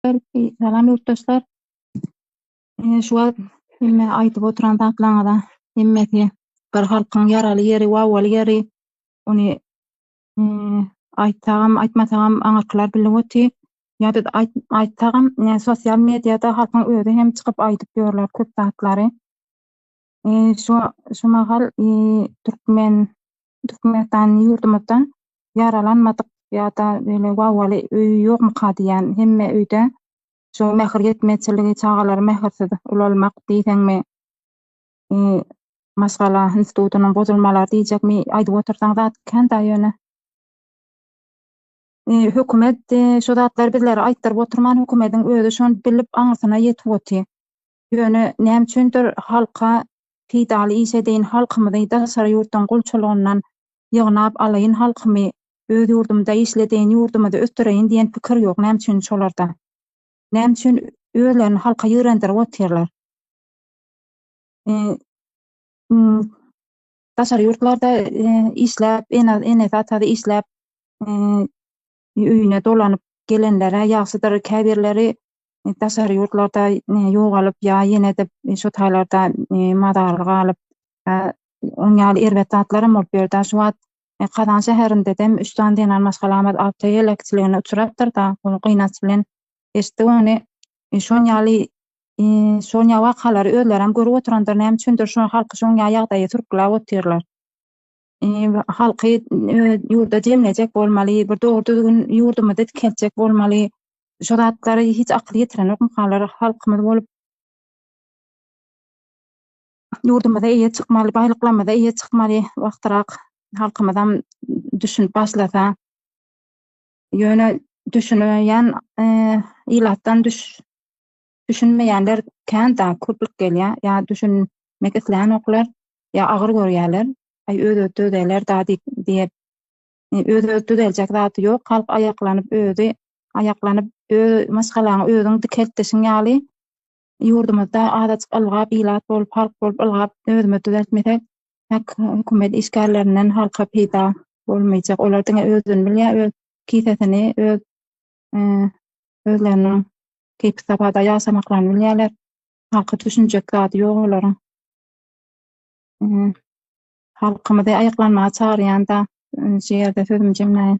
Salam ýurtdaşlar. Ine şu wagt hemme aýdyp oturan zatlaryňyza hemmesi bir halkyň ýaraly ýeri, wawaly ýeri. Ony mm, aýtsagam, aýtmasagam aňyrkylar bilip otyr. Ýa biz aýt- aýtsagam, ine sosial mediada halkyň özi hem çykyp aýdyp ýörler köp zatlary. Şu şu mahal türkmen Türkmenistan ýurdumyzda ýaralanmadyk ýa-da beýle wawaly öý ýokmuka diýýän. Hemme öýde şu mähir ýetmezçiligi, çagalary mähirsiz ulalmak diýseňmi, maşgala institutynyň bozulmalary diýjekmi, aýdyp otursaň zat kän-da ýöne. Hökümet şu zatlary bizlere aýtdyryp oturman, hökümetiň özi şony bilip aňyrsyna ýetip otyr. Ýöne näme üçindir halka peýdaly iş edeýin halkymyzy daşary ýurtdan gulçulygyndan ýygnap alaýyn halkymy öz ýurdumda işledeýin ýurdumyzy ösdüreýin diýen pikir ýok näme üçin şolarda? Näme üçin özlerini halka ýigrendirip otyrlar? Daşary ýurtlarda işläp enesi atasy işläp öýüne dolanyp gelenler-ä ýagşydyr, käbirleri daşary ýurtlarda ýogalyp ýa ýene-de şu taýlarda mazarly galyp, oň ýaly erbet zatlaram bolup ýörd-ä. Şu wagt Kazan şäherindedem üç sany zenan maşgalamyz awtoheleksiligine uçrapdyr-da, ony gynanç bilen eşitdik ony. Şoň ýaly şoň ýaly wakalary özlerem görüp oturandyr, näme üçindir şu halky şoň ýaly ýagdaýa sürküläp otyrlar. halky ýurda jemlejek bolmaly, bir dogry-düzgün ýurdumyzy dikeltjek bolmaly. Şu zatlara hiç akyl ýetirenokmy halar halkymyz bolup? Ýurdumyza eýe çykmaly, baýlyklarymyza eýe çykmaly wagtyrak halkymyzam düşünip başlasa. Ýöne düşüneýän ilatdan düş. Düşünmeýänler kän dag köplük gelýär, ýa düşünmek isleýänoklar, ýa agyr görýärler, aý öz-özi düzeler da diýip diýip, öz-özi düzeljek zat ýok, halk aýaklanyp özi aýaklanyp öz maşgalaňy özüň dikelt dişiň ýaly ýurdumyzda azajyk ylgap ilat bolup halk bolup ylgap özümiz düzeltmesek hak hökümet işgärlerinden halka peýda bolmaýjak olar diňe özüni bilýär öz kisesini öz özleriniň keýpi-sabada ýaşamaklaryny bilýärler. Halka düşünjek zady ýok olaryň. Halkymyzy aýaklanmaga çagyrýan-da, şu ýerde sözümi jemläýin.